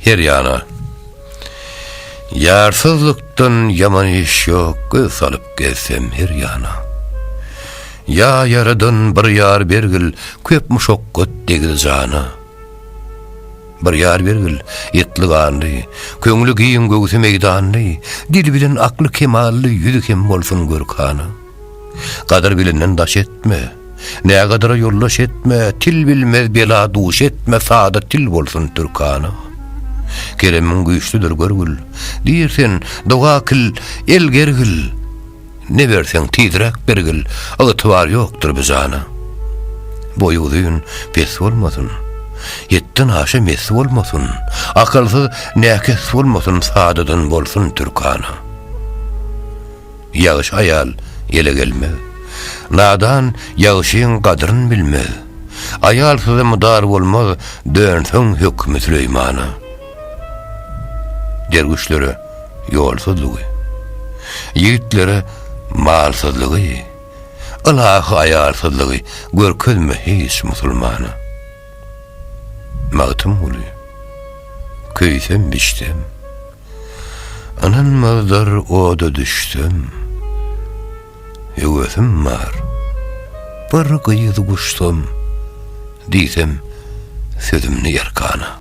Her ýana. Ýarsyzlykdan ýaman iş ýok, göz salyp gezsem her ýana. Ýa ýaradan bir ýar bergil, köp muşakgat degdi jana. Bir ýar bergil, etli ganly, köňli giň göwsi meýdanly, dil bilen akly kemally, ýüzi hem bolsun görkana. Gadyr bilenden daş etme. Nägadara ýoldaş etme, til bilmez bela duş etme sada til bolsun türkana. Keremiň güýçlüdir görgül, diýr sen, doga kil, el gergil, Ne berseň tizräk bergil, ygtybar ýokdur bu jana. Boýy uzyn, pes bolmasyn, ýetden aşa mes bolmasyn, Akylsyz, näkes bolmasyn sadadan bolsun türkana. Ýagşy aýal ele gelmez. Nadan ýagşyň gadryn bilmez. Aýalsyza mydar bolmaz, dönseň hökümi Süleýmana. Derwüşlere ýolsuzlygy. Ýigitlere malsyzlygy. Ylahy aýalsyzlygy görkezme hiç musulmana. Magtymguly. Köýsem-biçsem. Ynanmazlar oda düşsem Höwesim bar Bir gyz guşsam Diýsem sözümni erkana.